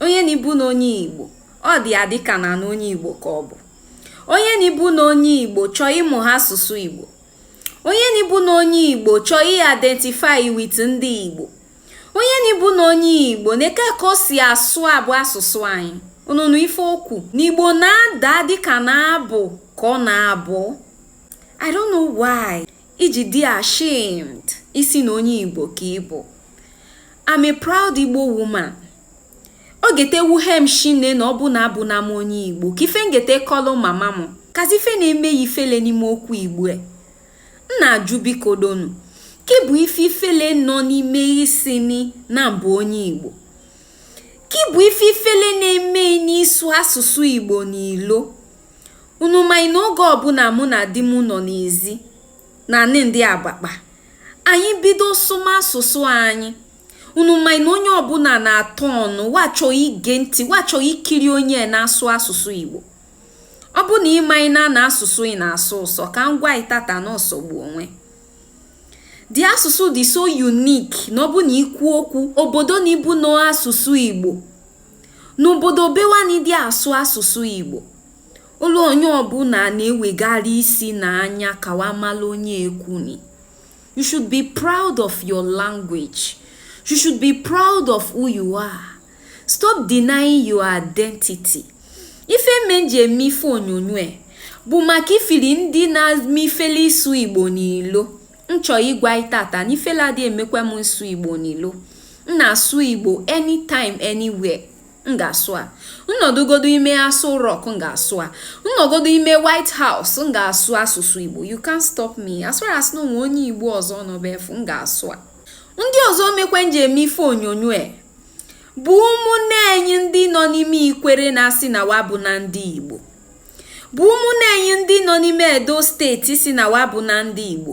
onye na ibu na onye igbo ọ dị ya dịka na na onye igbo ka ọ bụ onye na ibu na onye igbo chọọ ịmụ ha asụsụ igbo onye na ibu na onye igbo chọọ identify with ndị igbo onye na ibu na onye igbo neke ka o si asụ abụ asụsụ anyị unu nụ ife o kwu n'igbo na-ada dịka na abụ ka ọ na-abụ i don't know why i ji dị ashamed ịsị na onye igbo ka ị bụ I'm a proud igbo woman o gete wuhe m shinne na ọ bụ na abụ na m onye igbo ka ife ngete kọlụ mama m kazi ife na-eme yị ifele n'ime okwu igbo e. m na-ajụ biko donu ke bụ ife ifele nọ n'ime ịsị nị na m bụ onye igbo ke bụ ife ifele na-eme yị n'ịsụ asụsụ igbo n'ilo Unu manị na oge ọbụla mụ na di m nọ n'ezi na anị ndị agbakpa anyị bido sụma asụsụ anyị unu manị na onye ọbụla na-atọ ọnụ wa chọ ige ntị wa chọ ikiri onye na-asụ asụsụ Igbo ọ bụ na ị manị na na asụsụ ị na-asọ ụsọ ka m gwa ị tata na ọ sọgbu onwe the asụsụ dị so unique na ọ bụ na i kwu okwu obodo na ibu na asụsụ Igbo N'obodo be wa nị dị asụ asụsụ Igbo, olu onye ọbụla na-ewegara isi na anya ka wa mala onye ekwuni. You should be proud of your language. You should be proud of who you are. Stop denying your identity. Ife me nji eme ife onyonyo e bụ maka ifili ndị na-eme ifele ịsụ Igbo n'ilo. nchọ ịgwa ị tata na ifele adị emekwa m ịsụ igbo n'ilo m na-asụ igbo anytime anywhere m ga-asụ a nnọdụgodo ime aso rock m ga-asụ a nnọgodo ime white house m ga-asụ asụsụ igbo you can't stop me as far as na o nwe onye igbo ọzọ nọ ebe afụ m ga-asụ a ndị ọzọ mekwe nji eme ife onyonyo e bụ ụmụnne anyị ndị nọ n'ime ikwere na-asị na wa abụ na ndị igbo bụ ụmụnne anyị ndị nọ n'ime edo steeti sị na wa abụ na ndị igbo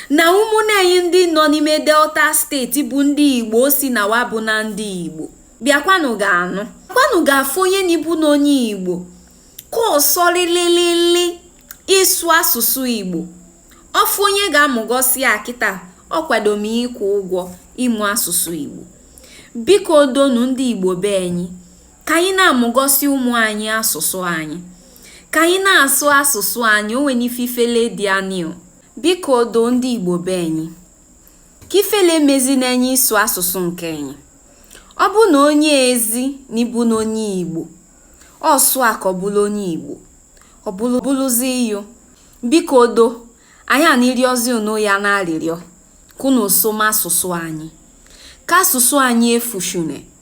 na ụmụnne anyị ndị nọ n'ime delta steeti bụ ndị igbo sị na wa abụ na ndị igbo bịakwanụ ga-anụ kwanụ ga-afụ onye na ibu na onye igbo ka ọ sọlililili ịsụ asụsụ igbo ọ fụ onye ga-amụgosi ya kịta ọ kwado m ịkwụ ụgwọ ịmụ asụsụ igbo biko donu ndị igbo be anyị ka anyị na-amụgosi ụmụ anyị asụsụ anyị ka anyị na-asụ asụsụ anyị o nwene ife ifele dị anio biko do ndị igbo be anyị ka ifele mezi na anyị ịsụ asụsụ nke anyị ọ bụ na onye ezi na ịbụ na onye igbo ọ sụ a ka ọ bụla onye igbo ọ bụ bụlụzi iyo biko do anyị na-arịọzi unu ya na arịrịọ ka unu sụma asụsụ anyị ka asụsụ anyị efushune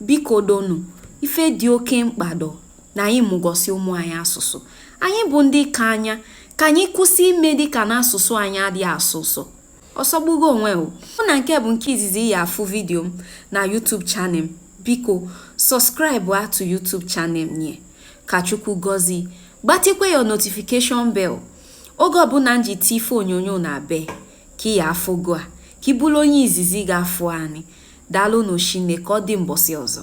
Bikodonu, ife dị oke mkpa dọ na anyị mụgọsị ụmụ anyị asụsụ. Anyị bụ ndị okenye, ka anyị kwụsị ime dị ka na asụsụ anyị adịghị asọ ụsọ. Ọ sọgbugo onwe o. Ọ na nke bụ nke izizi ị ya afụ vidio m na YouTube channel m. Biko, subscribe-a to YouTube channel m nye. Ka Chukwu gọzie. Gbatikwa your notification bell oge ọbụla m ji tii ife onyonyo n'ebe. ka ị ya afụ gua ka ị bụlụ onye izizi ga-afụ anị. Dalụ nụ shinne, ka ọ dị mbọsị ọzọ.